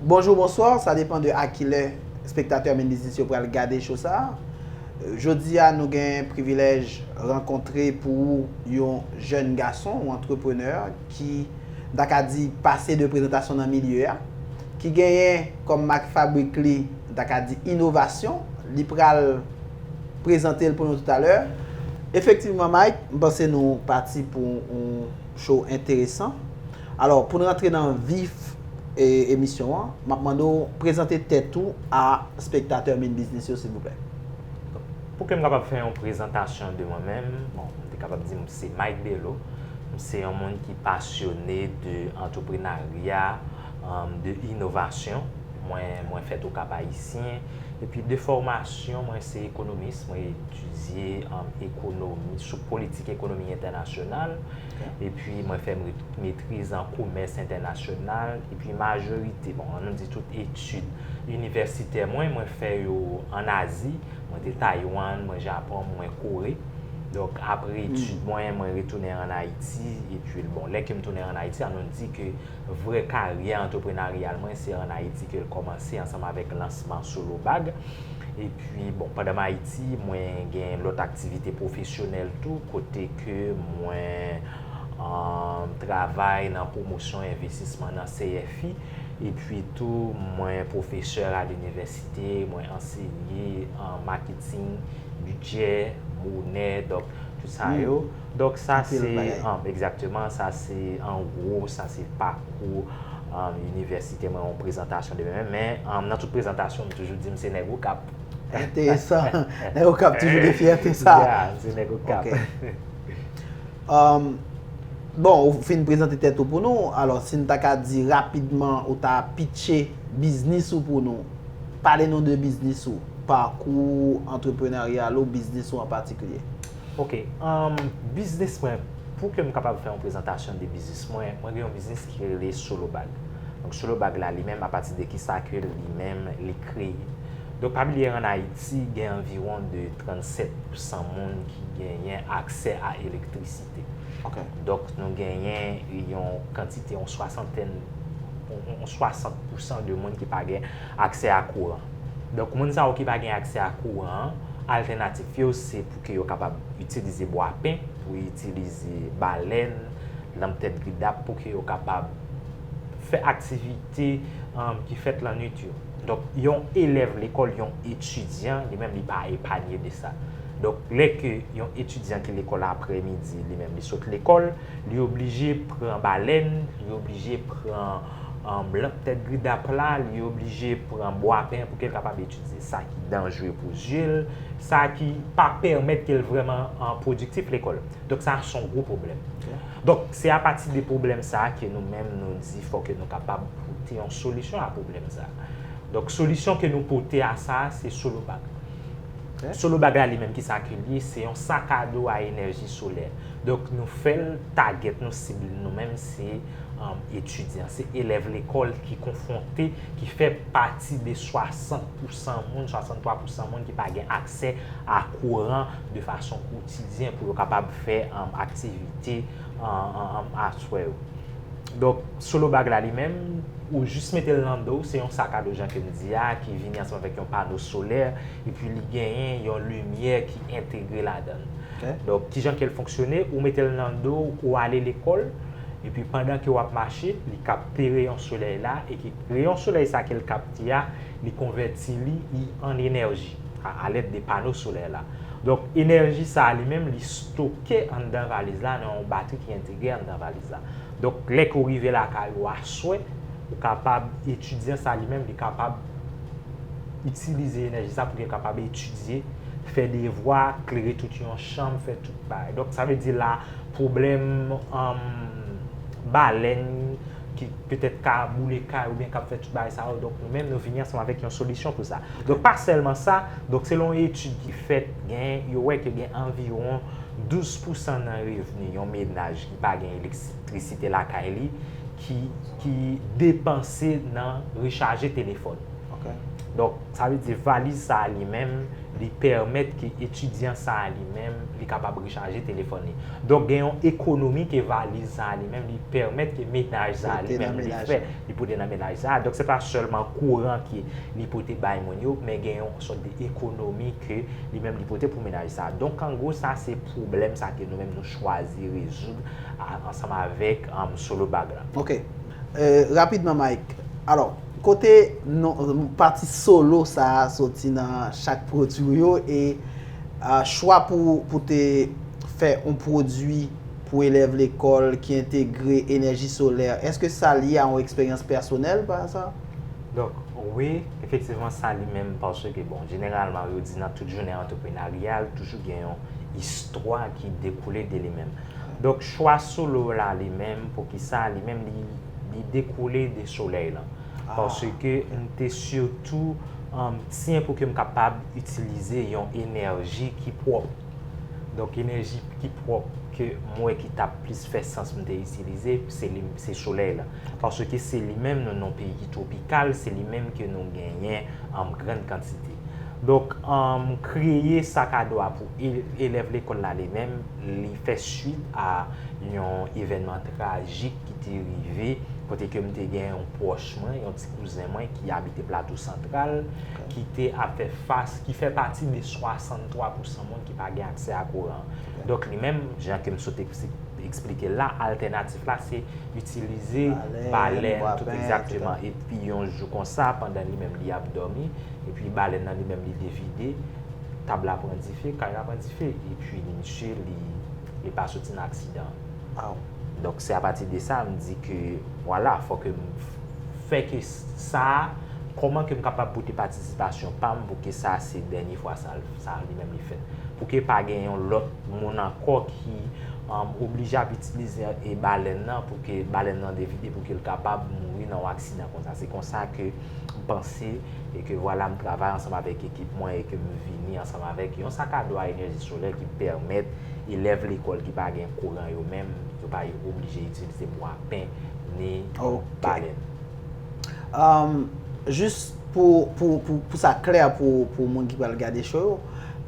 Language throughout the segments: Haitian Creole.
Bonjou bonswa, sa depan de a kilè spektatè min biznis yo pral gade cho sa. Jodi a nou gen privilèj rankontre pou ou yon jèn gason, yon antreprenè ki m ta ka di pase de prezantasyon nan milye a, ki genyen kòm mak fabrik li m ta ka di inovasyon, li pral prezante l pou nou toutalè. Efektivman Mike, m panse nou pati pou yon cho enteresan. Alò, pou n rantre nan vif emisyon an, m ap mande w prezante tèt ou a spektatè Min Biznis yo silvouplè. Pou ke m kapab fè yon prezantasyon de mwen menm, bon, m te kapab di m se Mike Bello. M se yon moun ki pasyone de antreprenarya, de inovasyon. Mwen, mwen fèt o Kap Ayisyen. Epi de fòmasyon, mwen se ekonomis. Mwen etidye ekonomi, sou politik ekonomi entènasyonal. epi mwen fè metriz an komès entènasyonal, epi majorite, bon, an nou di tout etid inivèsitè mwen, mwen fè yo an Azi, mwen te Taywann, mwen Japon, mwen Kore. Donk, apre etid mwen, mwen retounen an Ayiti, epi, bon, lè ke m tounen an Ayiti, an nou di ke vrè karyè antreprenaryal mwen, se an Ayiti ke l kòmanse ansanm avèk lansman Solo Bag. E pi, bon, pandan m Ayiti, mwen gen lòt aktivite pwofesyonèl tou, kote ke mwen travay nan pwomosyon envestisman nan CFI. E pi tou, mwen pwofesè a linivèsite, mwen ansenye maketing, bidjè, monè, donk, tout sa yo. Donk sa se, egzakteman, sa se an gwo, sa se pakou inivèsite mwen, yon prezantasyon de mwen. Men, nan tout prezantasyon, m toujou di m se nèg Okap. Enteresan. Nèg Okap toujou gen fyète sa. Ya, m se nèg Okap. Ok. Bon, ou fin prezante tèt ou pou nou, alò si n ta ka di rapidman ou ta pitche biznis ou pou nou, pale nou de biznis ou, pakou antreprenaryal ou, biznis ou an patikilye. Ok umm biznis mwen pou kem kapab fè yon prezantasyon de biznis mwen, mwen gen yon biznis ki rele solo bag donk solo bag la li menm apati de kisa ke li menm li kreye donk pa bliye an ayiti gen anviwon de 37 pou san moun ki genyen aksè a elektrisite ok donk nou genyen yon kantite yon swasantèn yon 60 pou san de moun ki pa gen aksè a kouran. Donk moun sa yo ki pa gen aksè a kouran an, altènatif yo se pou ke yo kapab itilize bwapen, pou itilize balèn, lanp tèt gridap pou ke yo kapab fè aktivite ki fèt lannwit yo. Donk yon elèv lekòl, yon etidyan, li menm li pa epanye de sa. Donk lè ke yon etidyan ki lekòl aprè midi, li menm li sot lekòl, li oblije pran balèn, li oblije pran. Lanp tèt gri dap la, li oblije pran bwapen pou ke l kapab etidye. Sa ki danjre pou zye l, sa ki pa pèmèt ke l vreman pwodiktif lekòl. Donk sa a son gwo pwoblèm. Donk se a pati de pwoblèm sa a ke nou menm nou di fò ke nou kapab pote yon solisyon a pwoblèm sa a. Donk solisyon ke nou pote a sa a se solo bag. Solo bag la li menm ki sa ke li ye, se yon sakado a enèji solè. Donk nou fè l tagèt nou sib nou menm se. etidyan, se elèv lekòl ki konfwonte, ki fè pati de 60 pousan moun, 63 pousan moun ki pa gen aksè a kouran de fason kotidyen pou yo kapab fè aktivite aswè yo. Donk, Solo Bag la li menm, ou jis mete l nan do w, se yon sak a do jan ke m di a, ki vini ansanm avèk yon pano solè, epi li genyen yon limyè ki entegre ladan l. Donk, kijan ke l fonksyone, ou mete l nan do w, ou ale lekòl, Epi pandan ke wap mache, li kapte reyon solèy la, e ki reyon solèy sa kel kapte a, li konvèti li i an enèji, a alèd de pano solèy la. Donk enèji sa li menm li stoke anndan valiz la nan yon batri ki entegre anndan valiz la. Donk lè ke ou rive lakay ou aswè, ou kapab, etidyan sa li menm li kapab itilize enèji sa pou li kapab etidye, fè devwa, klere tout yon chanm, fè tout bagay. Donk sa vle di la, pwoblèm balèn ki petèt ka boule kay oubyen kap fè tout bagay sa yo, donk nou menm nou vini ansanm avèk yon solisyon pou sa. Donk pa sèlman sa, donk selon yon etid ki fèt, gen, yo wè ke gen anviwon 12 pousan nan revni yon menaj ki pa gen elektrisite lakay li ki, ki depanse nan rechaje telefòn. Donk sa vle di valiz sa a li menm Li pèmèt ke etidyan sa a li menm, li kapab rechaje telefòn li. Donk gen yon ekonomi ke valiz sa a li menm, li pèmèt ke menaj sa a li menm li fè, li pote nan menaj sa a. Donk se pa sèlman kouran ke li pote bay moun yo, men gen yon sòt de ekonomi ke li menm li pote pou menaj sa a. Donk an gwo sa se pwoblèm sa ke nou menm nou chwazi rezoud ansanm avèk Solo Bag la. Ok. Rapidman Mike, alò. Kote pati solo sa a soti nan chak pwodwi ou yo e chwa pou te fè yon pwodwi pou elèv lekòl ki entegre enèji solè, èske sa lye a yon eksperyans pèsonèl pa aza? Donk, wi, efektivman sa li menm paske, bon, jeneralman yo di nan tout jounen antreprenaryal li toujou gen yon istwa ki dekoule de li menm. Donk, chwa solo la li menm, poukisa li menm li. li dekoule de solèy lan. Paske m te sitou tyen pou ke m kapab itilize yon enèji ki pwòp. Donk enèji ki pwòp ke m wè ki ta plis fè sans m te itilize, se solèy lan. Paske se li menm nou nan peyi ki twopikal, se li menm ke nou genyen an gran kantite. Donk m kreye sak a do a pou elèv lekòl la li menm, li fè suit a yon evènman trajik. ki te rive, kote ke m te gen yon pwòch mwen, yon ti kouzen mwen ki abite Plato Santral, ki te ap fè fas, ki fè pati de 63 pousan moun ki pa gen aksè a kouran. Donk li menm, jan ke m sot eksplike la, altènatif la se itilize balèn, tout egzakteman. E pi yon jou konsa, pandan li menm li ap dòmi, e pi balèn nan li menm li devide, tab la pran dife, kay la pran dife. E pi misye li pa soti nan aksidan. Waw! Donk se apati de sa m di ke vwala fò ke m fè ke sa a, kòman ke m kapab pote patisipasyon pa m pou ke sa a se dènye fwa sa l, sa a li menm li fèt. Pou ke pa gen yon lòt moun ankò ki oblije ap itilize balèn nan pou ke balèn nan devide pou ke l kapab mouri nan yon aksidan konsa. Se konsa ke. m panse e ke vwala m travay ansanm avèk ekip mwen e ke m vini ansanm avèk yon sak a do a enèji solè ki pèmèt elèv lekòl ki pa gen kouran yo menm yo pa oblije itilize bwapen ni balèn. Ok. Jis pou sa klè pou moun ki pral gade show yo,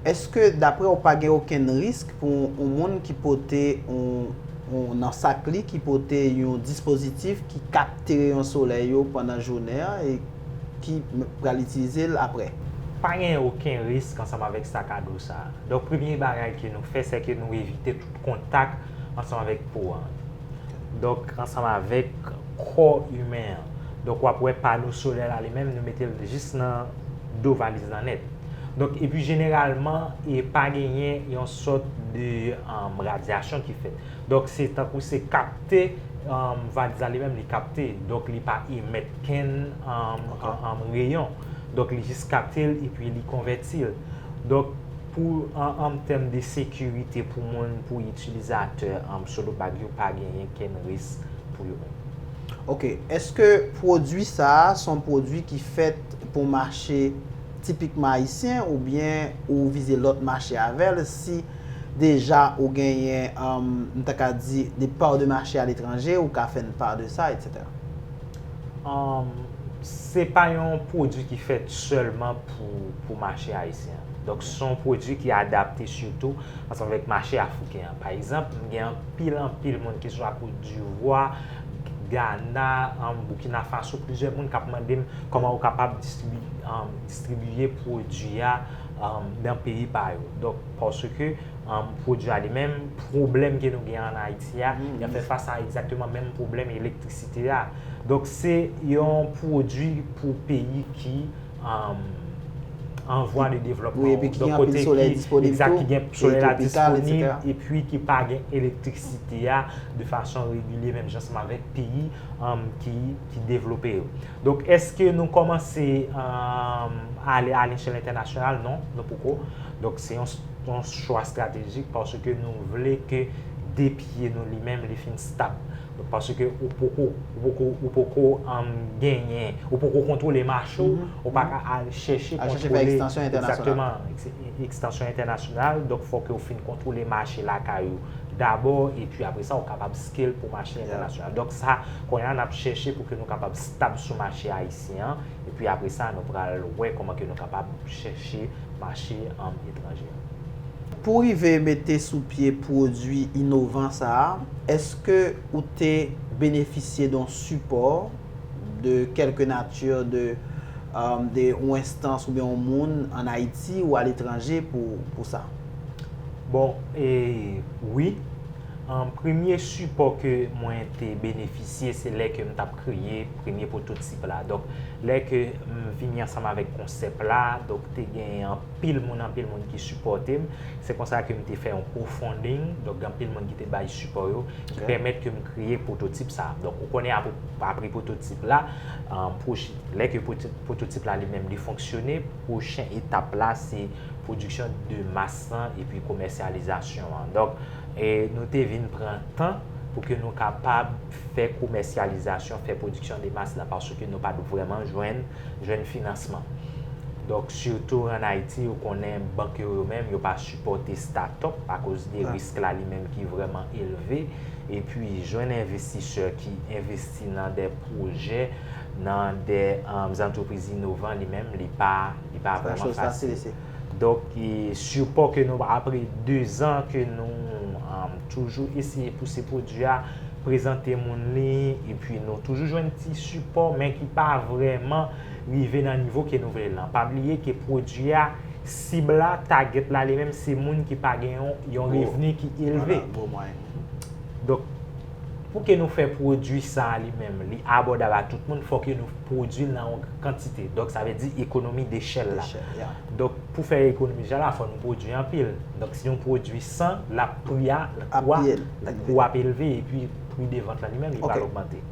eske daprè ou pa gen okenn risk pou yon moun ki pote yon nan sak li ki pote yon dispozitif ki kap Te reyon solèy yo pandan jounen an e ki pral itilize l aprè. Pa gen oken risk ansanm avèk sakado sa a. Donk premye bagay ke nou fè sè ke nou evite tout kontak ansanm avèk po an. Donk ansanm avèk kò imen an. Donk wap wè pano solè la li menm nou mete l jis nan do valiz lan nèt. Donk epi jeneralman e pa genyen yon sòt de radyasyon ki fèt. Donk se tankou se kapte vag sa li menm li kapte donk li pa emèt kenn reyon donk li jis kapte l epi li konvèti l donk pou an tèm de sekirite pou moun pou itilizatè solo bag yo pa genyen kenn risk pou yo menm. Ok, eske pwodwi sa a se yon pwodwi ki fèt pou mache tipikman ayisyen oubyen ou vize lòt mache avè l si deja ou genyen m ta ka di de part de mache a letranje ou ka fè n part de sa etc. Se pa yon pwodwi ki fèt sèlman pou mache ayisyen an. Donk se yon pwodwi ki adapte sitou ansanm avèk mache afriken an. Pa egzanp, m gen anpil anpil moun ki swa Kodivwa, Gana, Boukina Faso, plizyè moun k ap mande m kòman ou kapab distribiye pwodwi a. dan peyi pa yo. Donk, paske pwodui a li menm, pwoblèm ke nou gen an Ayiti a, ya fè fas a egzakteman menm pwoblèm elektrisite a. Donk, se yon pwodui pou peyi ki an vwa de devlòpman. Epi ki gen anpil solèy disponib tou. Exact, ki gen solèy la disponib, epi ki pa gen elektrisite a de fason regilye menm jan seman vek peyi ki. ki devlope yo. Donk, eske nou kòmanse ale a lechèl entènasyonal? Non, nou poko. Donk, se yon chwa estratejik paske nou vle ke de pye nou li menm li fin stab. Donk, paske ou poko, ou poko genyen, ou poko kontwole mache ou, ou pa ka al chèche kontwole. Al chèche fè ekstansyon entènasyonal. Ekzakteman, ekstansyon entènasyonal. Donk, fòk yo fin kontwole mache lakay ou dabò, epi apre sa ou kapab scale pou mache entènasyonal. Donk, sa. Kounye a n ap chèche pou ke nou kapab stab sou mache ayisyen an, epi apre sa nou pral wè kòman ke nou kapab chèche mache etranje an. Pou rive mete sou pye pwodui inovan sa a, èske ou te benefisye de yon sipò de kèlke nati de de yon enstans oubyen yon moun an Ayiti ou aletranje pou sa? Bon, e, wi. Premye sipò ke mwen te benefisye se lè ke m tap kreye premye pwototip la. Donk, lè ke m vini ansanm avèk konsèp la, donk te gen anpil moun, anpil moun ki sipòte m. Se konsa ke m te fè yon crowdfunding, donk gen anpil moun ki te bay sipò yo, ki pèmèt ke m kreye pwototip sa. Donk, ou konnen apre pwototip la, lè ke pwototip la li menm li fonksyone, Pwochen etap la se pwodiksyon de mas lan epi komèsyalizasyon an. Donk, nou te vin pran tan pou ke nou kapab fè komèsyalizasyon, fè pwodiksyon de mas la, paske nou pa t vrèman jwenn finansman. Donk, sitou an Ayiti, ou konnen bank yo yo menm, yo pa sipòte statòp akoz de risk la li menm ki vrèman elve. Epi, jwenn envestisè ki envesti. envesti nan de pwojè, nan de antrepriz inovan li menm, li pa vreman fasil. Donk, sipo ke nou apre 2 zan ke nou toujou eseye pouse pwodwi a, prezante moun li, epi nou toujou jwenn ti sipo, men ki pa vreman rive nan nivo ke nou vle lan. Pa bliye ke pwodwi a, sib la, target la li menm, se moun ki pa gen yon revni ki elve. Donk. Pou ke nou fè pwodwi sa a li menm, li abòdab a tout moun, fò ke nou pwodwi l nan yon kantite. Donk, sa vle di ekonomi dechèl la. Donk, pou fè ekonomi dechèl la, fò nou pwodwi anpil. Donk, si nou pwodwi 100, la pri a, kou a ap elve, e pi pri de vant la li menm li pral ogmante.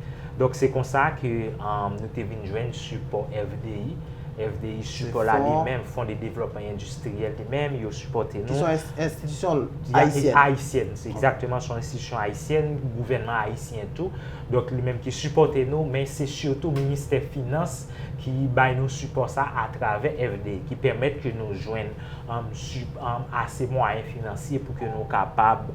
Donk, se konsa ke nou te vin jwenn sipò FDI. FDI sipò la li menm, Fonds de Développement Industriel li menm, yo sipòte nou. Ki son enstitisyon ayisyèn. Ayisyèn, se egzakteman son enstitisyon ayisyèn, gouvènman ayisyen tou. Donk li menm ki sipòte nou, men se sitou Ministè Finans ki bay nou sipò sa atravè FDI, ki pèmèt ke nou jwenn ase mwayen finansye pou ke nou kapab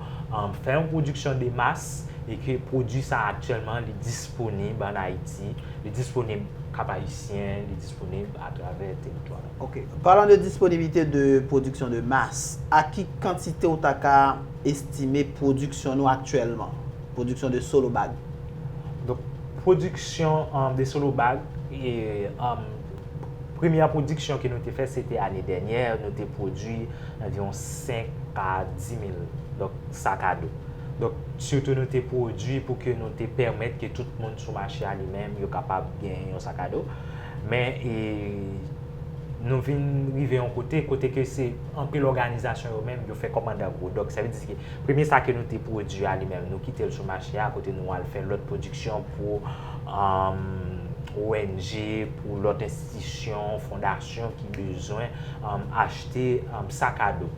fè yon pwodiksyon de mas e ke pwodwi sa aktyèlman li disponib. disponib an Ayiti, li disponib Kap Ayisyen, li disponib atravè teritwa la. Ok. Palan de disponibilite de pwodiksyon de mas, a ki kantite ou ta ka estime pwodiksyon nou aktyèlman? Pwodiksyon de solo bag. Donk, pwodiksyon de solo bag, premyè pwodiksyon ke nou te fè se te ane dènyè, nou te pwodui anviwon 5 a 10 mil sak a do. Donk, sitou nou te pwodui pou ke nou te pèmèt ke tout moun sou mache a li menm yo kapab gen yon sakado. Men, nou vin rive yon kote, kote ke se anpil òganizasyon yo menm yo fè kòmandan gwo. Donk, sa vle di ke premye sa ke nou te pwodui a li menm, nou kite l sou mache a kote nou al fè lòt pwodiksyon pou ONG, pou lòt enstitisyon, fondasyon ki bezwen achte sakado.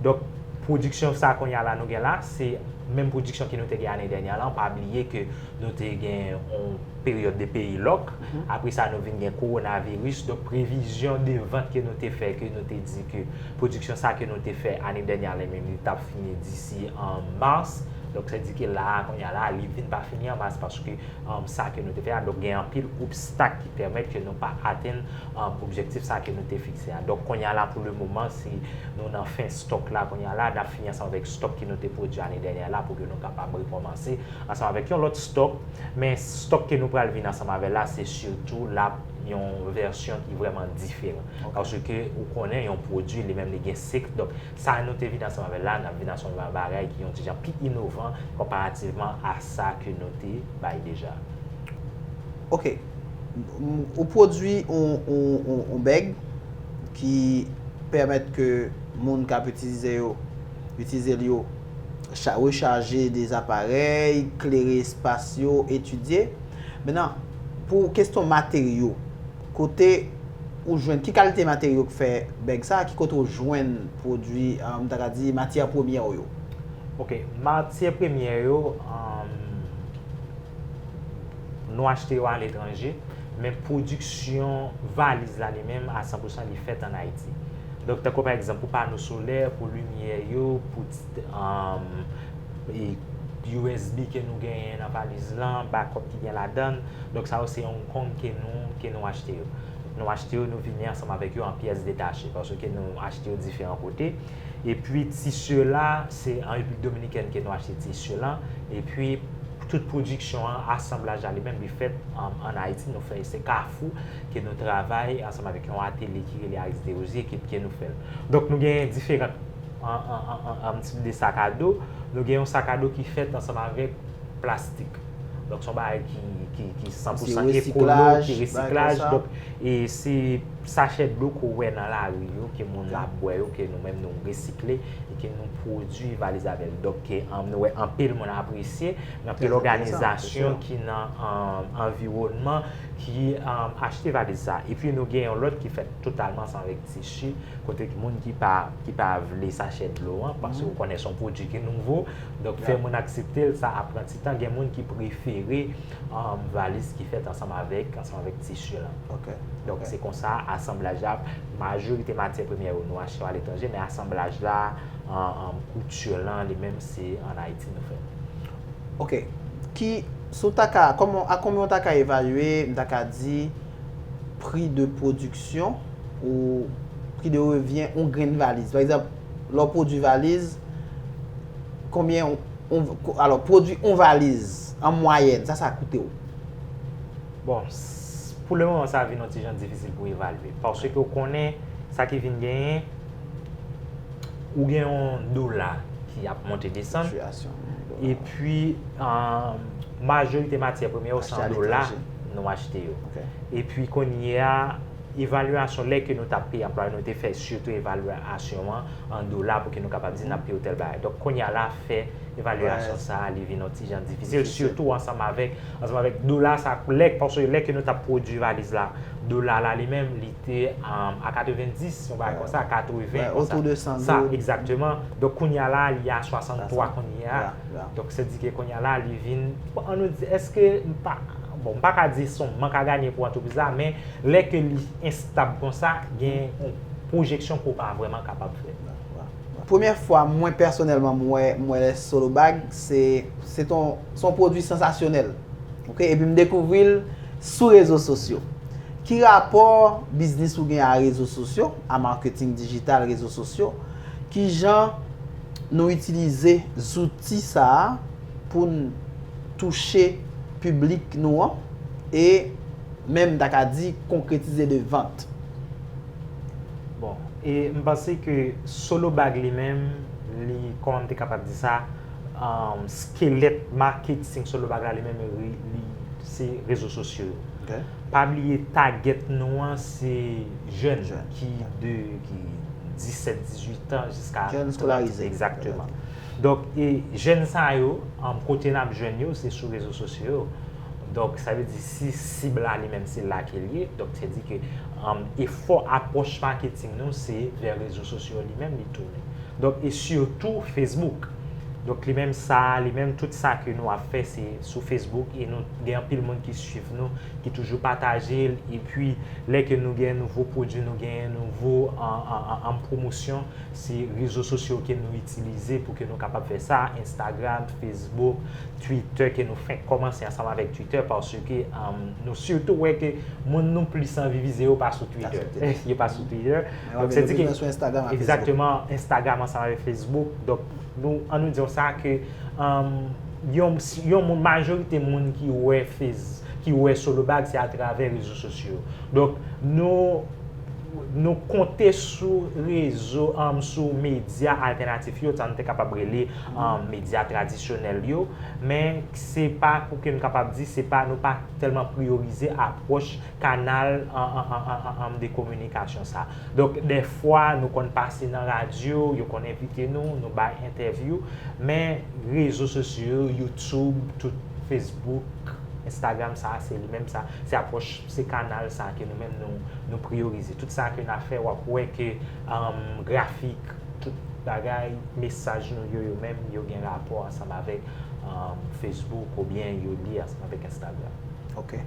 Donk, pwodiksyon sa kounye a la nou gen la, se menm pwodiksyon ke nou te gen ane dènyè la, pa bliye ke nou te gen yon peryòd de peyi lòk, apre sa nou vin gen kowonaviris, donk previzyon de vant ke nou te fè, ke nou te di ke pwodiksyon sa ke nou te fè ane dènyè a li menm li tap fini disi an mas, donk se di ke la a kounye a la a li vin pa fini an mas paske sa ke nou te fè a, donk gen anpil obstak ki pèmèt ke nou pa atenn objektif sa ke nou te fikse a. Donk kounye a la pou le moman se. Nou nan fen stock la kounye a la, nap fini ansanm avèk stock ke nou te pwodwi ane dènyè la pou ke nou kapab rekòmanse ansanm avèk yon lòt stock, men stock ke nou pral vin ansanm avèl la se sitou lap yon vèsyon ki vrèman diferan paske ou konnen yon pwodwi li menm li gen sik, donk sa nou te vin ansanm avèl la nap vin ansanm avèk bagay ki yon ti jan pi inovan konparativman a sa ke nou te bay deja. Ok, Ou pwodui yon bèg ki pèmèt ke moun k ap itilize yo, itilize l yo, rechaje de aparèy, klere espas yo, etidye. Menan, pou kesyon materyo, kote ou jwenn, ki kalite materyo k fè bèg sa a, ki kote ou jwenn pwodui, m ta ka di matyè premyè w yo? Ok, matyè premyè yo. Nou achte yo a letranje, men pwodiksyon valiz la li menm a 100 pousan li fèt an Ayiti. Donk tankou pa egzanp pou pano solè, pou limyè yo, pou usb ke nou genyen nan valiz lan, bakòp ki gen ladan l. Donk sa yo se Hong Kong ke nou ke nou achte yo. Nou achte yo, nou vini ansanm avèk yo an pyès detache paske nou achte yo diferan kote. Epi tisye la, se an Repiblik Dominikèn ke nou achte tisye lan. Epi. Tout pwodiksyon an, asanblaj la li menm li fèt ann Ayiti. Nou fè se Kafou ke nou travay ansanm avèk yon atelye ki rele Aris Derosier ke ke nou fè l. Donk nou gen diferant tip de sakado. Nou gen yon sakado ki fèt ansanm avèk plastik. Donk se yon bagay ki san pou san ekolo, ki resiklaj. Donk e se sachè dlo ke w wè nan lari yo ke moun la ap bwè yo ke nou menm nou resikle. e ke nou pwodui valiz avè l. Donk, nou wè anpil moun apresye, gen anpil òganizasyon ki nan anviwònman ki achte valiz sa. E pi nou gen yon lòt ki fèt totalman san règ tichi, kote ki moun ki pa vle sachè dlo an, paske ou konnen son pwodui ki nouvo, donk fè moun aksepte l, sa ap pran ti tan. Gen moun ki prefere. Valis ki fèt ansanm avèk ansanm avèk tisi lan. Ok. Donk se konsa asanblaj la, majorite matyè premyè yo nou achte yo aletranje men asanblaj la, kouti lan li menm se an Ayiti nou fè l. Ok. Ki, si w ta ka, kòman, a konbyen w ta ka evalye, m ta ka di, pri de pwodiksyon ou pri de revyen yon grenn valiz? Pa egzanp. Lè w pwodui valiz, konbyen yon, alò, pwodui yon valiz, an mwayèn, sa sa koute w? Bon, pou le moman sa vin yon ti jan difisil pou evalye. Paske ou konnen, sa ki vin genyen, ou gen yon dola ki ap monte desann, e pi, majorite matyè premye yo se an dola nou achte yo. E pi kounye a, Evalyasyon lè ke nou tap peye anplwaye nou te fè sitou evalyasyon an an dola pou ke nou kapab di nap peye ou tèl bagay. Donk kounye a la fè evalyasyon sa a li vin yon ti jan difisil sitou ansanm avèk ansanm avèk dola sa a lè paske lè ke nou tap pwodui valiz la dola la li menm li te a 90 yon bagay konsa 80 konsa sa egzakteman donk kounye a la li a 63 kounye a donk se di ke kounye a la li vin an nou di eske m pa bon m pa ka di son mank a ganye pou antrepriz la men Lè ke li enstab konsa, gen yon pwojeksyon ke w pa vrèman kapab fè. Premyè fwa mwen pèsonèlman m wè m wè solo bag se se t yon se yon pwodwi sansasyonèl ok epi m dekouvri l sou rezo sosyo ki rapò biznis ou gen a rezo sosyo a marketing digital rezo sosyo kijan nou itilize zouti sa a pou n touche piblik nou an e menm ta ka di konkretize de vant. Bon, e m panse ke Solo Bag li menm, li, kòman m te kapab di sa, skelèt maketing Solo Bag la li menm li se rezo sosyo yo. Pa bliye tagèt nou an se jèn ki de 17, 18 an jiska. Jèn eskolarize. Egzakteman. Donk, e jèn sa yo, kote n ap jwenn yo se sou rezo sosyo yo. Donk sa vle di si sib la li menm se la ke li ye, donk se di ke efò apwòch maketing nou se vè rezo sosyo li menm li tounen. Donk e sitou Facebook. Donk li menm sa, li menm tout sa ke nou ap fè se sou Facebook e nou gen anpil moun ki swiv nou, ki toujou pataje l, e pi lè ke nou gen nouvo pwodui, nou gen nouvo pwomosyon, se rezo sosyo ke nou itilize pou ke nou kapab fè sa, Instagram, Facebook. Twitter ke nou fenk komanse ansanm avèk Twitter paske nou sitou wè ke moun nou plis anvi vize yo pa sou Twitter. Yo pa sou Twitter. Men wap gen opinyon sou Instagram ak Facebook. Exactement, Instagram ansanm avèk Facebook. Donk, an nou di yo sa ke yon moun, majorite moun ki wè solobag se atravè rezo sosyo. Donk, nou. nou konte sou rezo, sou medya altènatif yo, sa nou te kapab rele medya tradisyonèl yo, men se pa pou ke m kapab di, se pa nou pa tèlman priyorize apwòch kanal de kominikasyon sa. Donk, dè fwa nou konn pase nan radyo, yo konn envite nou, nou bay entèvyou, men rezo sosyo yo, YouTube, tout Facebook, Instagram sa, se li menm sa, se apwòch. Se kanal sa ke nou menm nou priyorize. Tout sa ke na fè wap wè ke grafik, tout bagay, mesaj nou yo yo menm yo gen rapò ansanm avèk Facebook ou byen yo lye ansanm avèk Instagram. Ok.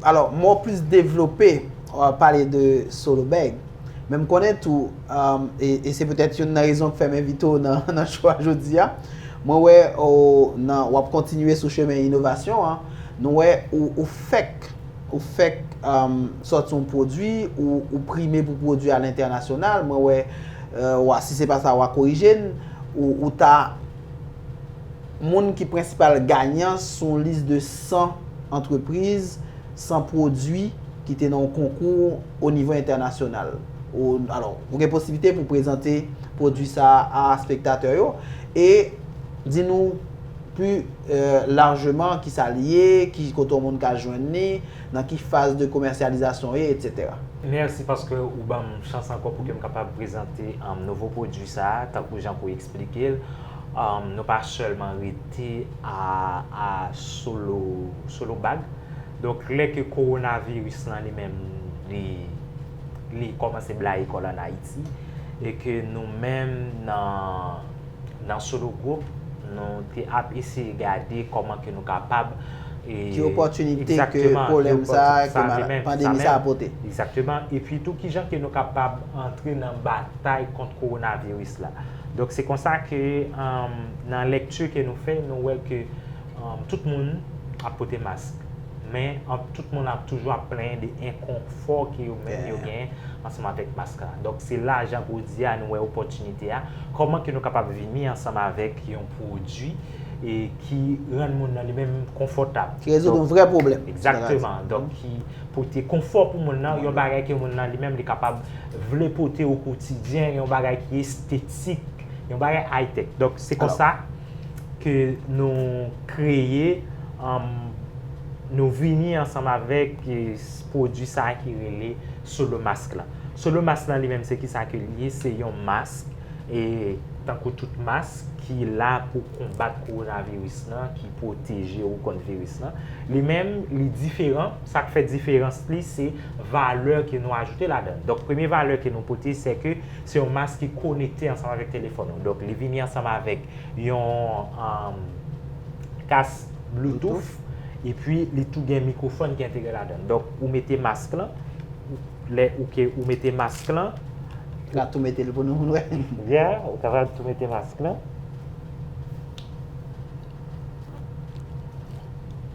Alò, mwen wè plis devlope ou ap pale de Solo Bag. Men m konnen tou, e se petèt youn nan rezon ki fè m envite w nan show a jodi a, mwen wè ou nan, wap kontinye sou chemen inovasyon an, nou wè ou fèk. Ou fèk sòti yon pwodwi, ou prime pou pwodwi a lentènasyonal, mwen wè, si se pa sa wa korije n, ou ta moun ki prensipal ganyan sou yon lis de 100 antrepriz, 100 pwodwi ki te nan yon konkou o nivo entènasyonal. Alò, ou gen posiblite pou prezante pwodwi sa a a spektatè yo e di nou. Pi lajman, ki sa li ye, ki kote yon moun ka jwenn li, nan ki faz de komèsyalizasyon li ye, etc. Mèsi paske ou banm chans ankò pou kem kapab prezante nouvo pwodwi sa a tankou jan ke w eksplike l. Nou pa sèlman rete a solo, solo bag. Donk lè ke kowonaviris lan li menm li, li kòmanse blayi kò l an Ayiti e ke nou menm nan. Nan Solo Group, nou te ap eseye gade kòman ke nou kapab e... Ki opòtinite ke pwolèm sa, ke pandemi sa apote. Egzakteman. E pi tou ki jan ke nou kapab antre nan batay kont kowonaviris la. Donk se konsa ke nan lèkti ke nou fè, nou wè ke... Tout moun ap pote mask, men tout moun ap toujou ap plenyen de enkonfò ke yo menm yo genyen ansanm avèk mask la. Donk se la jan koudi a nou wè opòtinite a, kòman ke nou kapab vini ansanm avèk yon pwodui e ki rann moun nan li menm konfòtab. Ki rezoud yon vrè pwoblèm. Egzakteman. Donk ki pote konfò pou moun nan, yon bagay ke moun nan li menm li kapab vle pote o kotidyen, yon bagay ki estetik, yon bagay aytèk. Donk se konsa. ke nou kreye, nou vini ansanm avèk pwodui sa a ki rele Solo Mask la. Solo Mask la li menm se ki sa ke li ye, se yon mask, e tankou tout mask ki la pou konbat kowonaviris la, ki pwoteje ou kont viris la. Li menm, li diferan, sa k fè diferans li se valè ke nou ajoute ladan. Donk premye valè ke nou pote se ke. Se yon mas ki konekte ansanm avèk telefòn ou. Donk li vini ansanm avèk yon kas bloutouf epi li tou gen mikwofòn ki entegre ladan. Donk ou mete mask lan, lè ou ke ou mete mask lan. Ou ka tou mete li pou nou moun wè. Yè, ou kapab tou mete mask lan.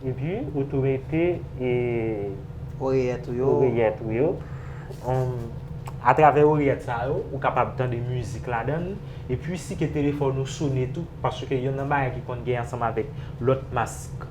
Epi ou tou mete e. Oreyèt ou yo. Oreyèt ou yo. Atravè orèt sa yo, ou kapab tande mizik ladan l, epi si ke telefòn ou sone tou, paske yonn nan bagay ki konn gen ansanm avèk lòt mask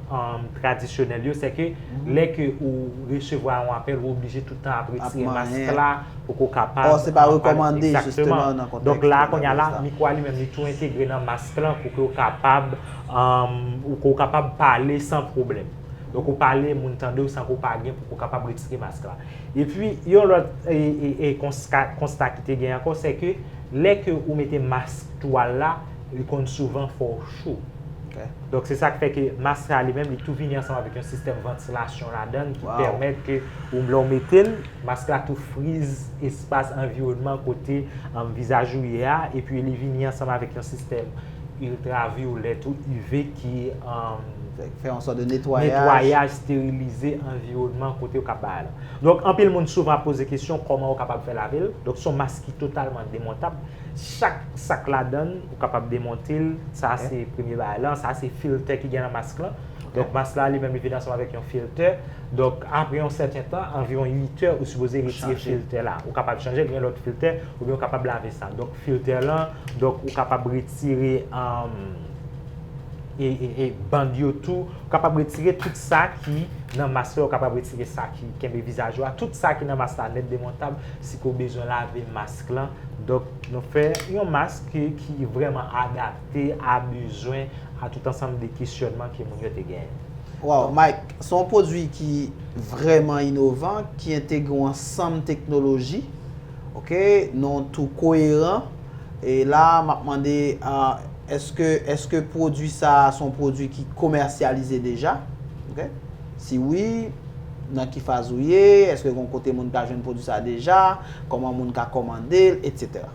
tradisyonèl yo, se ke lè ke ou resevwa yon apèl, ou oblije tout tan ap retire mask la, pou ke ou kapab... Or se pa rekòmande, jisteman, nan kontèks... Donk la, kounye a la, mikwo a li menm, li tou entegre nan mask lan, pou ke ou kapab, pou ke ou kapab pale san pwoblèm. Donk ou pale, moun tande ou san ke ou pa gen, pou ke ou kapab retire mask la. Epi yon lòt konsta ki te gen ankò se ke lè ke ou mete mask twal la li konn souvan fè w cho. Donk se sa k fè ke mask la li menm li tou vini ansanm avèk yon sistèm vantilasyon ladan l ki pèmèt ke ou lè w mete l mask la tou friz espas anviwònman kote vizaj ou ye a epi li vini ansanm avèk yon sistèm Iltravyolèt ou UV ki fè yon sòt de netwayaj, sterilize anviwònman kote yo kap bay la. Donk anpil moun souvan ap poze kesyon kòman ou kapab fè lave l. Donk son mask ki totalman demontab. Chak sak ladann ou kapab demonte l. Sa se premye bagay lan. Sa se filtè ki gen nan mask lan. Donk mask la li menm li vin ansanm avèk yon filtè. Donk apre yon sèten tan, anviwon 8 è, ou sipoze retire filtè la. Ou kapab chanje l gen lòt filtè oubyen ou kapab lave sa. Donk filtè lan. Donk ou kapab retire band yo tou, ou kapab retire tout sa ki nan mas la, ou kapab retire sa ki kenbe vizaj ou a, tout sa ki nan mas la nèt demontab, si ke ou bezwen lave mask lan. Donk nou fè yon mask ki vreman adapte a bezwen, a tout ansanm de kesyonman ke moun yo te genyen. Waw Mike, se yon pwodwi ki vreman inovan, ki entegre yon ansanm teknoloji. Ok nou tou koyeran. E la map mande eske eske pwodwi sa son pwodwi ki komèsyalize deja ok si wi nan ki faz ou ye eske gon kote moun ka jwenn pwodwi sa deja kòman moun ka kòmandel etc.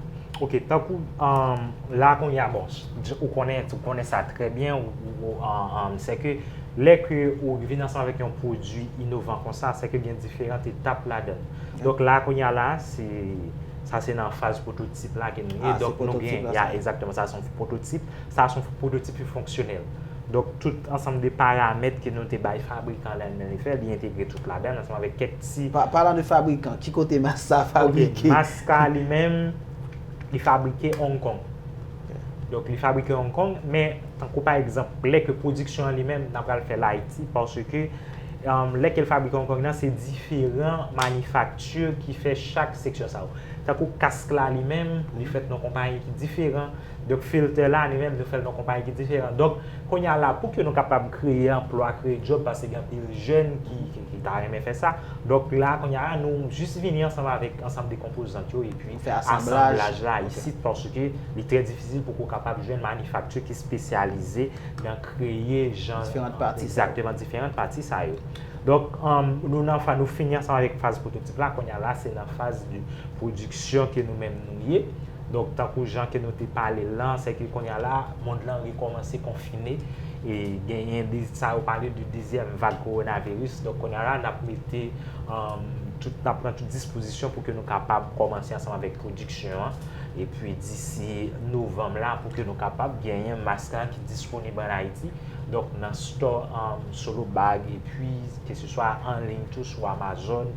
Ok tankou la kounya bon ou konnen sa trè byen ou sèke. Lè ke ou vin ansanm avèk yon pwodui inovan konsa, se ke gen diferant etap ladan. Donk la, kounye a la, se, sa se nan faz pwototip la ke nou ye. Ah, se pwototip la sa. Ya, egzakteman. Sa son pwototip. Sa son pwototip ki fonksyonèl. Donk tout ansanm de paramèt ke nou te bay fabrikan la nan li fè, li entegre tout ladan ansanm avèk kèk ti. Palan de fabrikan, ki kote mask sa fabrike? Ok, mask sa li menm, li fabrike Hong Kong. Donk li fabrike Hong Kong, men tankou pa egzanp lè ke pwodiksyon an li menm nan pral fèl Ayiti, paske lè ke l fabrike Hong Kong nan se diferan manifakti ki fè chak seksyon sa yo. Tankou kask la li menm, li fèt nan konpayi ki diferan, donk filtè la li menm nou fèl nan konpayi ki diferan. Donk kounye a la pou ke nou kapab kreye anplwa, kreye djòb, paske gen anpil jèn ki ta renmen fè sa, donk la kounye a nou jis vini ansanm avèk ansanm de konpozant yo. Pou fè asanblaj la isit paske li trè difisil pou ke w kapab jwenn manifakti ki spesyalize nan kreye jan diferant pati sa yo. Donk nou fini ansanm avèk faz pwototip la, kounye a la se nan faz de pwodiksyon ke nou menm nou ye. Donk tankou jan ke nou te pale l lan, se ke kounye a la mond lan rekòmanse konfine e genyen de sa yo pale de dezyèm vag kowonaviris. Donk kounye a la n ap mete tout, n ap pran tout dispozisyon. kondisyon pou ke nou kapab kòmanse ansanm avèk pwodiksyon an, epi disi novanm la pou ke nou kapab genyen mask la ki disponib an Ayiti, donk nan stò Solo Bag, epi ke se swa an liy tou sou Amazon,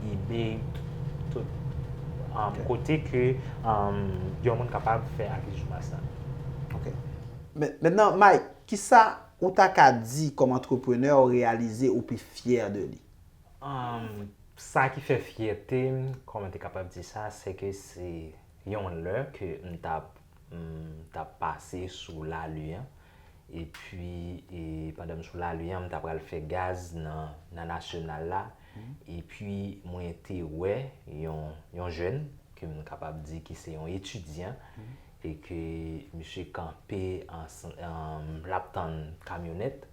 Ebay, tout kote ke yon moun kapab fè akizisyon mask la. Ok. Mètnan Mike, kisa ou ta ka di kòm antreprenè ou reyalize ou pi fyè de li? Sa ki fè fyète m, kòman te kapab di sa, se ke se yon lè ke m t ap, t ap pase sou Lali an, epi pandan m sou Lali an, m ta pral fè gaz nan Nasyonal la, epi mwen te wè yon jèn, ke m kapab di ki se yon etidyan, e ke misye kanpe, l ap tann kamyonèt,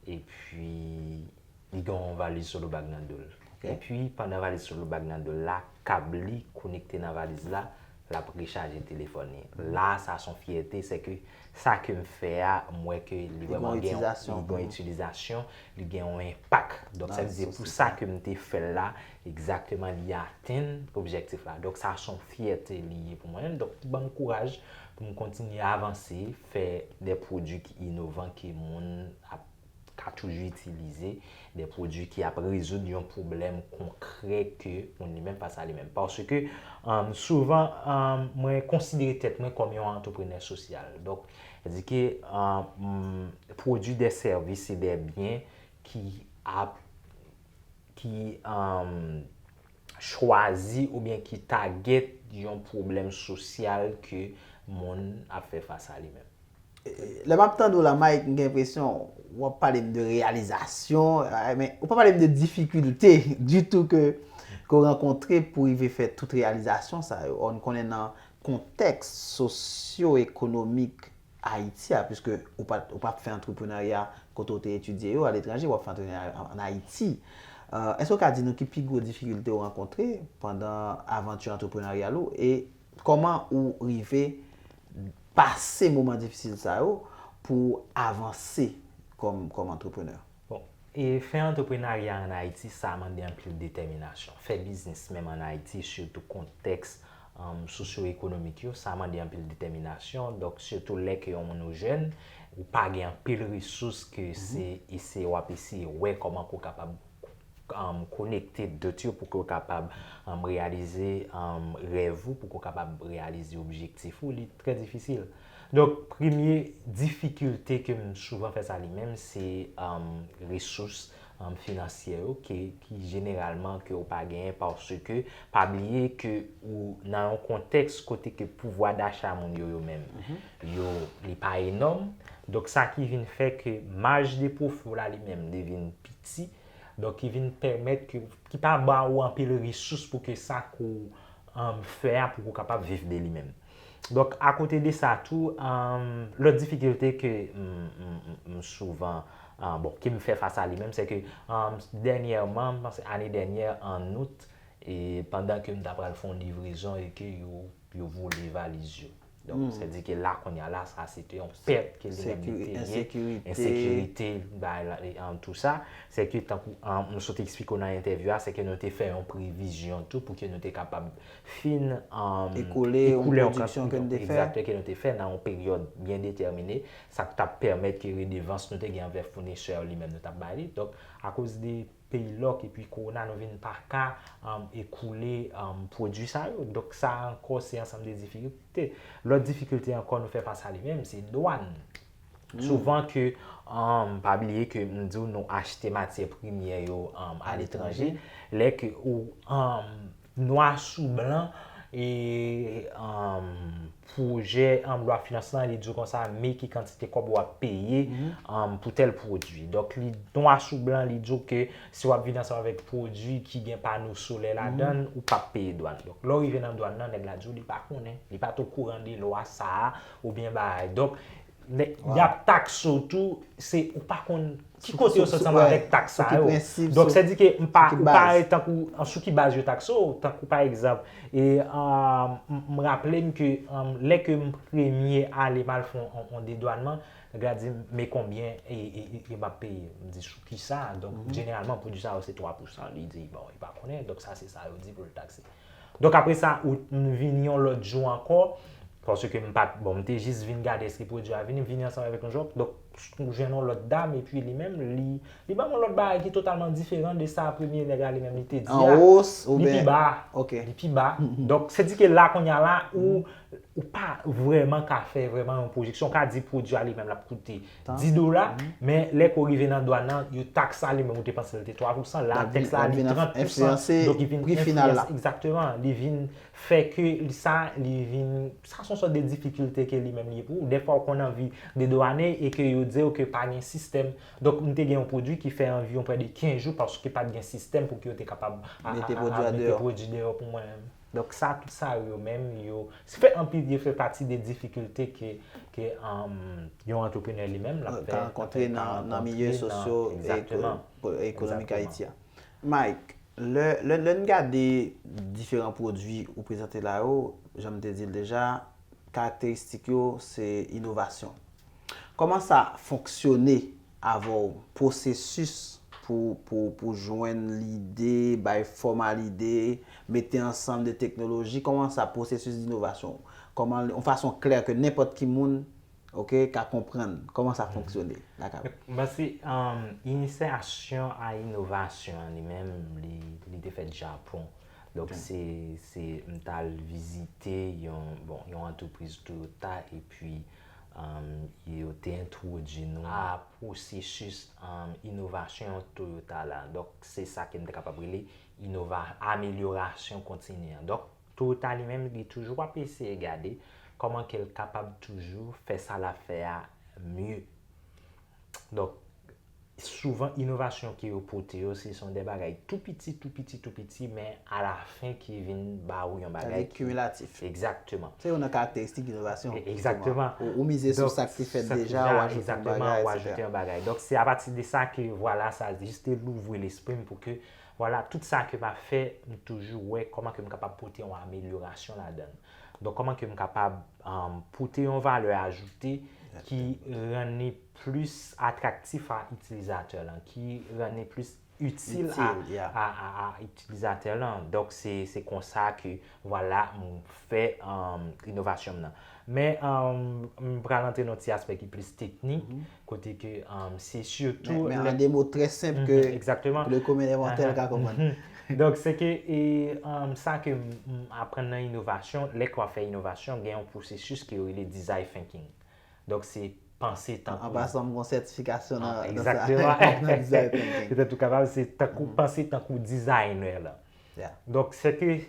epi Li gen yon valiz solo bag nan do l. Epi pandan valiz solo bag nan do l la, kab li konekte nan valiz la, l ap rechaje telefòn li. La a sa son fyète, se ke sa ke m fè a, m wè ke li vreman gen yon itilizasyon, li gen yon enpak. Donk sa vle di pou sa ke m te fè l la, egzakteman li atenn objektif la. Donk sa son fyète li ye pou mwen menm. Donk ki ban m kouraj pou m kontinye avanse, fè de pwodui ki inovan ke moun ap. ka toujou itilize de pwodui ki ap rezoud yon pwoblèm konkrè ke moun li menm fas a li menm. Paske souvan mwen konsidere tèt mwen kòm yon antreprenè sosyal. Donk, sa di ke m pwodui de sèvis e de byen ki ap ki chwazi oubyen ki tagèt yon pwoblèm sosyal ke moun ap fè fas a li menm. Lè map tande w la Mike m gen enpresyon wap pale m de reyalizasyon men ou pa pale m de difikilte ditou ke ou rankontre pou w rive fè tout reyalizasyon sa yo. Ò n konnen nan kontèks sosyo ekonomik. Ayiti a, piske ou pa ou pa fè antreprenarya kote ou te etidye yo aletranje, w ap fè antreprenarya an Ayiti. Èske ou ka di nou ki pi gwo difikilte ou rankontre pandan avanti antreprenaryal ou e kòman ou rive pase moman difisil sa yo pou avanse kòm kòm antreprenè? Bon, e fè antreprenarya an Ayiti sa mande anpil detèminasyon. Fè biznis menm an Ayiti sitou kontèks sosyoekonomik yo sa mande anpil detèminasyon donk sitou lè ke yon moun ou jèn ou pa gen anpil resous ke se eseye w ap eseye wè kòman ke w kapab konekte dot yo pou ke w kapab reyalize rèv ou pou ke w kapab reyalize objektif ou li trè difisil. Donk premye difikilte ke m souvan fas a li menm se resous finansyè yo ke jeneralman ke ou pa genyen paske pa bliye ke ou nan yon kontèks kote ke pouvwa dacha moun yo yo menm yo li pa enòm donk sa ki vin fè ke maj de pwofi w la li menm li vin piti donk ki vin pèmèt ke ki pa ba ou anpil resous pou ke sa ke ou fè a pou ke ou kapab viv de li menm. Donk akote de sa tou, lòt difikilte ke m souvan, bon, ke m fè fas a li menm, se ke dènyèman, m panse ane dènyè an out, e pandan ke m ta pral fon livrezon e ke yo vole valiz yo. Donk, se di ke la konya la, sa se te yon pèt ke li menm li te ye. Ensekirite. Ensekirite, an tou sa. Se ke tankou, m sot eksplike w nan entèvyou a, se ke nou te fè yon previzyon tou pou ke nou te kapab fin ekoule an pwodiksyon ke nou te fè nan yon peryòd byen detèmine, sa k t ap pèmèt ke redevans nou te gen anvè founisè yo li menm nou t ap bay li. Donk, akoz de peyi lòk epi kowona nou vin pa ka ekoule pwodui sa yo. Donk, sa ankò se ansanm de difikilte. Lòt difikilte ankò nou fè fas a li menm se dwàn. Souvan ke, pa bliye ke m di w nou achte matyè premyè yo aletranje, lè ke ou Nwa sou blan, e pwojè lwa finans lan, li di w konsa, me ki kantite kòb w ap peye pou tèl pwodui. Donk, nwa sou blan, li di w ke si w ap vini ansanm avèk pwodui ki gen pano solè ladan l, ou pa p peye dwàn. Donk, lè w rive nan dwàn nan, nèg la di w li pa konnen, li pa t okouran de lwa sa a, oubyen bagay. Donk, Yap taxe ou tou, se ou pa konn ki kote yo sot ansanm avèk taxe sa yo. Donk se di ke ou pa e tankou sou ki baz yo taxe ou, tankou pa egzanp, e m raple m ke lè ke m premye ale mal fon yon dedwanman, nèg la di m men konbyen e map peye. M di sou ki sa, donk jeneralman pwodwi sa yo se 3 pousan, li di bon li pa konnen, donk sa se sa yo di pou l taxe. Donk apre sa, m vini yon lòt jou ankò, paske m pa t, bon, m te jis vin gade èske pwodui a vini, m vini ansanm avèk yon jòb, donk m jwenn yon lòt dam, epi li menm, li, li ban m yon lòt bagay ki totalman diferan de sa premye nèg la li menm li te di a. An wos oubyen? Li pi ba. Ok. Li pi ba. Donk, se di ke la kounye a la, ou, ou pa vrèman ka fè vrèman yon pwojeksyon, ou ka di pwodui a li menm l ap koute. 10 dola, men lè ke w rive nan dwàn nan, yo tax sa li menm ou te panse l te 3 pousan, la tax la li 30 pousan, donk li vin enfliyans, egzakteman, li vin fè ke sa li vin, sa son sòt de difikilte ke li menm li ye pou ou, dè fwa ou konn anvi dedwane e ke yo di ou ke pa gen sistèm, donk m te gen yon pwodwi ki fè anviwon prè de 15 jou paske pat gen sistèm pou ke yo te kapab mete pwodwi deyò pou mwen. Donk sa tout sa yo yo menm yo se fè anpil yo fè pati de difikilte ke ke yon antreprenè li menm lap fè ka rankontre nan milye sosyo e ekonomik Ayiti a. Mike, lè n gade diferan pwodwi ou prezante la yo, jan m te di l deja, karakteristik yo se inovasyon. Kòman sa fonksyone Avè w, pwosesis pou jwenn lide, bay fòm a lide, mete ansanm de teknoloji, kòman sa pwosesis d'inovasyon, kòman l yon fason klè ke nenpòt ki moun, ok, ka konprann, kòman sa fonksyone la kay ou? Mèsi. Inisiyasyon a inovasyon an li menm, li te fèt Japon. Donk se, se m t al vizite yon, bon, yon antrepriz Toyota epi yo te entwodui nou a pwosesis inovasyon Toyota la. Donk, se sa ke m te kapab rele inova, amelyorasyon kontini an. Donk, Toyota li menm li toujou ap eseye gade kòman ke l kapab toujou fè sa l ap fè a mye. Donk. souvan inovasyon ke yo pote yo se son de bagay tou piti, tou piti, tou piti men a la fen ki vin ba ou yon bagay ki. Sa vle di kimilatif. Egzakteman. Se yon nan karakteristik inovasyon. Egzakteman. Ou mize sou sa ki fèt deja, ou ajoute yon bagay, etc. Ou ajoute yon bagay. Donk se a pati de sa ke vwala sa jis te louvri lespri m pou ke vwala tout sa ke m ap fè m toujou wè kòman ke m kapab pote yon amelyorasyon ladan. Donk kòman ke m kapab pote yon valè ajoute ki rann li pi. plis atraktif a itilizatè lan, ki rann li plis itil a itilizatè lan. Donk se konsa ke vwala m fè inovasyon m nan. Men m pral antre nan ti aspè ki plis teknik, kote ke se sitou... Men an de mo trè senp ke pou le komen de mòtèl ka konprann. Donk se ke sa ke m aprann nan inovasyon, lè ke w ap fè inovasyon, gen yon pwosesis ke yo rele design thinking. Donk se panse tankou. An pasan m gon sètifikasyon nan sa. Egzakteman. Petèt ou kapab se tankou panse tankou dizayinè lan. Ya. Donk se ke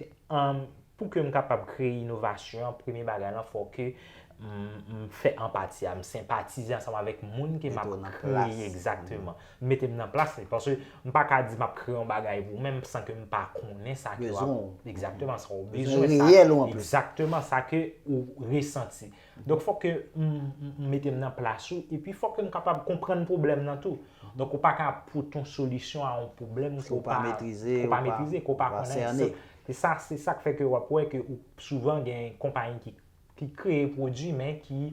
pou ke m kapab kreye inovasyon an, premye bagay lan fò ke m fè anpati a, m senpatize ansanm avèk moun ke m ap kreye. Egzakteman. M mete m nan plas li. Paske m pa ka di m ap kreye yon bagay pou mwen san ke m pa konnen sa ke w ap. Bezwen w. Egzakteman. Sa w bezwen. Bezwen reyèl ou anplis. Egzakteman. Sa ke ou resanti. Donk fòk ke m mete m nan plas ou, epi fòk ke m kapab konprann pwoblèm nan tou. Donk ou pa ka ap pote yon solisyon a yon pwoblèm ke w pa metrize, ke w pa konnen. Se sa, se sa k fè ke w ap wè ke souvan gen konpayi ki kreye pwodui men ki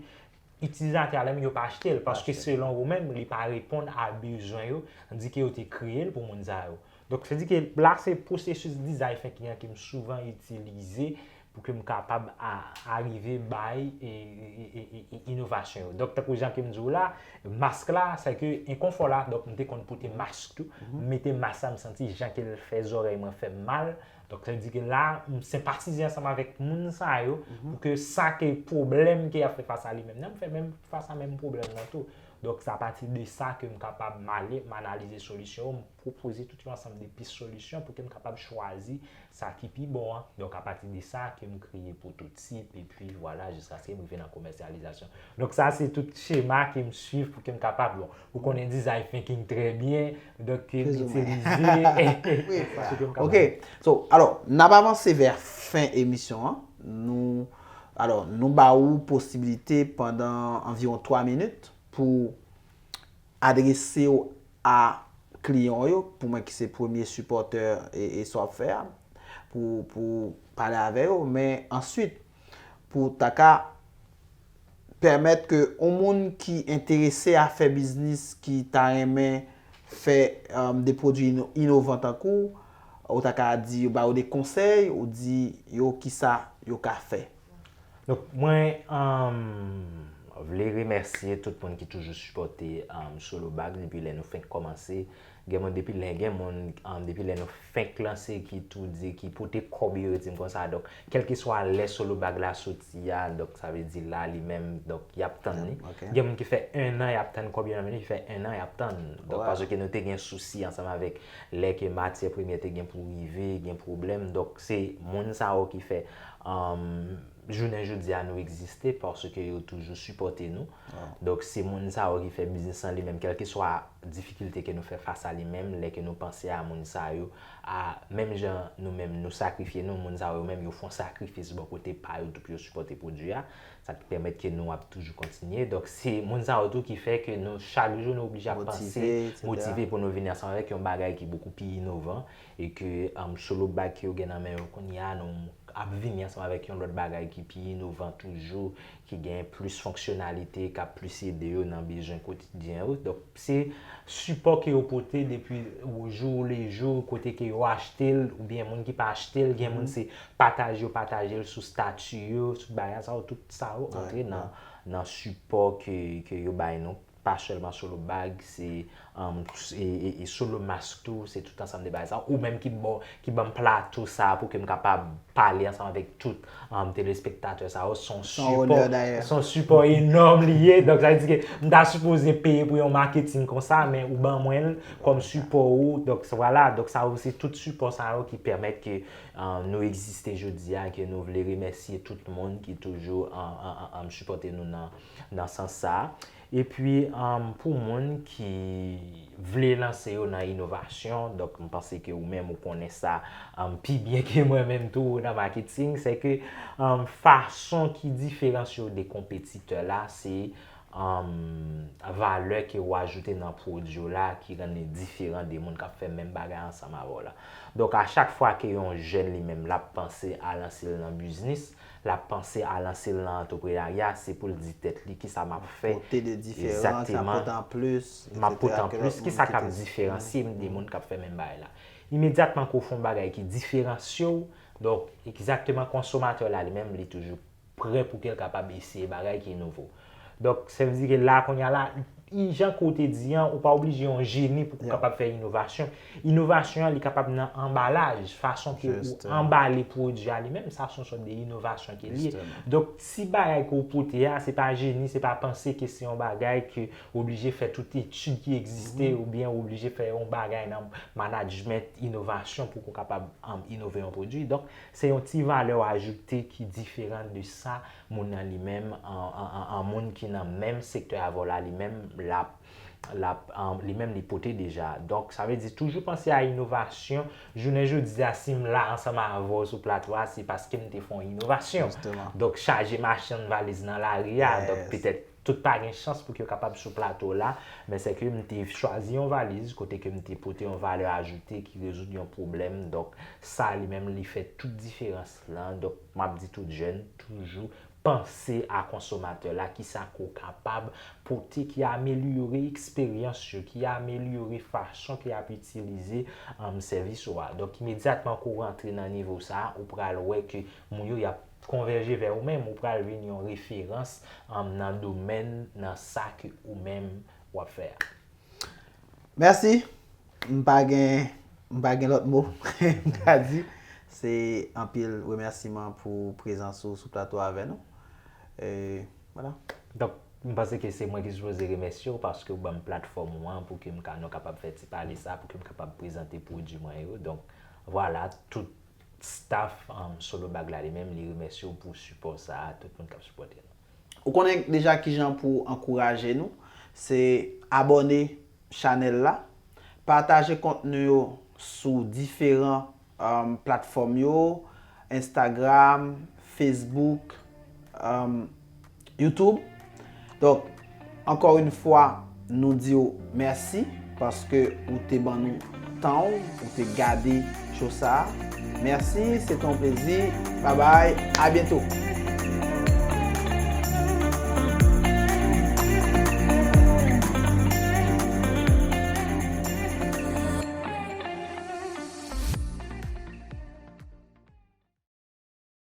itilizatè a li menm yo pa achte l. Paske selon yo menm, li pa reponn a bezwen yo, an di ke yo te kreye l pou moun sa yo. Donk se di ke la se pwosesis dizay fenk li an ke m souvan itilize pou ke m kapab arive bay inovasyon yo. Donk, tankou jan ke m di w la, mask la, se ke enkonfò la, donk m te konn pote mask tou, m mete mask la, m santi jan ke l fè zòrèy mwen fè m mal, donk sa vle di ke la, m senpatize ansanm avèk moun sa yo, pou ke sa ke pwoblèm ke y ap fè fas a li menm nan, m fè menm fas a menm pwoblèm nan tou. Donk, se apati de sa ke m kapab m ale, m analize solisyon yo, m pwopoze tout yon ansanm de pis solisyon pou ke m kapab chwazi sa ki pi bon an, donk a pati de sa ke m kreye pwototip epi vwala jiskaske m rive nan komèsyalizasyon. Donk sa se tout chema ke m swiv pou ke m kapab, bon, ou konnen design thinking trè byen, donk ke m itilize pou ke m kapab. Ok, so, alò, n ap avanse vè fen emisyon an, nou, alò, nou ba ou posibilite pandan anviwon 3 minit pou. Adrese w a kliyan w yo, pou mwen ki se premye sipòtè e sa w ap fè a, pou ou pale avè yo, men answit pou ou ta ka pèmèt ke yon moun ki enterese a fè biznis, ki ta renmen fè de pwodwi inovan tankou w, ou ta ka di, ba yo de konsèy, ou di yo kisa yo ka fè. Donk mwen vle remèsye tout moun ki toujou sipòte Solo Bag depi lè nou fenk kòmanse. Gen moun depi lè, gen moun depi lè nou fenk lanse ki tou di ki pote kòb yo di m konsa. Donk kèlkeswa lè Solo Bag la soti a, donk sa vle di la li menm, donk y ap tann li. Gen moun ki fè ennan y ap tann kòb yo nan men yo, ki fè ennan y ap tann. Donk paske nou te gen sousi ansanm avèk lè ke matyè premyè te gen pou rive, gen pwoblèm. Donk se moun sa yo ki fè Humm jounen jodi a nou egziste paske yo toujou sipòte nou donk se moun sa yo ki fè biznis lan li menm kèlkeswa difikilte ke nou fè fas a li menm lè ke nou panse a moun sa yo a menm jan nou menm nou sakrifye nou moun sa yo menm yo fon sakrifis bò kote pa yo tou pou yo sipòte pwodwi a sa ki pèmèt ke nou ap toujou kontinye donk se moun sa yo tou ki fè ke nou chak jou nou oblije ap panse motive pou nou vini ansanm avèk yon bagay ki bokou pi inovan E ke solo bag ke yo gen nan men yo kounye a, nou ap vini ansanm avèk yon lòt bagay ki pi inovan toujou, ki gen plis fonksyonalite, k ap plis ede yo nan bezwen kotidyen yo. Donk, se sipò ke yo pote depi ojou lejou, kote ke yo achte l, oubyen moun ki pa achte l, gen moun se pataj yo pataje l sou stati yo, sou bagan sa yo, tout sa yo antre nan sipò ke yo bay nou. pa sèlman solo bag, se solo mask tou, se tout ansanm de bagay sa. Ou menm ki banm plato sa pou ke m kapab pale ansanm avèk tout telespektatè sa yo, son sipò enòm li ye. Donk sa vle di ke m ta sipoze peye pou yon maketin konsa, men ou ban mwen l kòm sipò ou. Donk sa vwala, donk sa yo se tout sipò sa yo ki pèmèt ke nou egziste jodi a, ke nou vle remèsye tout moun ki toujou sipòte nou nan. nan sans sa a. Epi pou moun ki vle lanse yo nan inovasyon, donk m panse ke ou menm ou konnen sa pi byen ke mwen menm tou nan maketing, se ke fason ki diferansye w de konpetitè la, se valè ke ou ajoute nan pwodui w la ki rann li diferan de moun k ap fè menm bagay ansanm avè w la. Donk a chak fwa ke yon jèn li menm l ap panse a lanse l nan biznis, L ap panse a lanse l nan antreprenarya, se pou l di tèt li, kisa m ap fè egzakteman, m ap pote an plis, kisa k ap diferansye m de moun k ap fè menm bagay la. Imedyatman ke w fè yon bagay ki diferansye w, donk egzakteman konsomatè la li menm li toujou pre pou ke l kapab eseye bagay ki nouvo. Donk, sa vle di ke la a kounye a la, jan ke ou te di an, ou pa oblije yon jeni pou ke ou kapab fè inovasyon. Inovasyon an, li kapab nan anbalaj, fason ke ou anbale pwodui a li menm, sa son sòt de inovasyon ke li ye. Donk, ti bagay ke ou pote a, se pa jeni, se pa panse ke se yon bagay ke ou oblije fè tout etid ki egziste ou byen ou oblije fè yon bagay nan manadjment inovasyon pou ke ou kapab inove yon pwodui. Donk, se yon ti valè ou ajoute ki diferan de sa moun nan li menm an moun ki nan menm sektè avèw la li menm lap lap li menm li pote deja donk sa vle di toujou panse a inovasyon jounen jodia sim la ansanm avèw sou platfò a se paskem te fè yon inovasyon donk chaje machann valiz nan lari a donk petèt tout pa gen chans pou yo kapab sou plato la men se kem te chwazi yon valiz kote kem te pote yon valè ajoute ki rezoud yon pwoblèm donk sa li menm li fè tout diferans. lan donk map di tout jèn toujou panse a konsomatè la kisa ke w kapab pote ki amelyore eksperyans yo ki amelyore fason ke yap itilize sèvis ou a donk imedyatman ke w rantre nan nivo sa a ou pral wè ke moun yo yap konvèje vè ou menm ou pral vin yon referans nan domèn nan sa ke ou menm wap fè a. Merci m pa gen m pa gen lòt mo m ka di se anpil remèsiman pou prezans ou sou plato a avè nou e vwala. Donk m panse ke se mwen ki sipoze remèsye w paske w banm platfòm ou an pou ke m ka nou kapab fè ti pale sa pou ke m kapab prezante pwodui mwen yo donk vwala tout staff Solo Bag la li menm li remèsye w pou sipò sa a tout moun k ap sipòte nou. Ou konnen deja kijan pou ankouraje nou, se abòne chanèl la, pataje kontni yo sou diferan platfòm yo, Instagram, Facebook, Youtube. Ankò yn fwa nou diw mèsi paske ou te ban nou tanw ou te gade cho sa mèsi se te yon plezi babay a byento.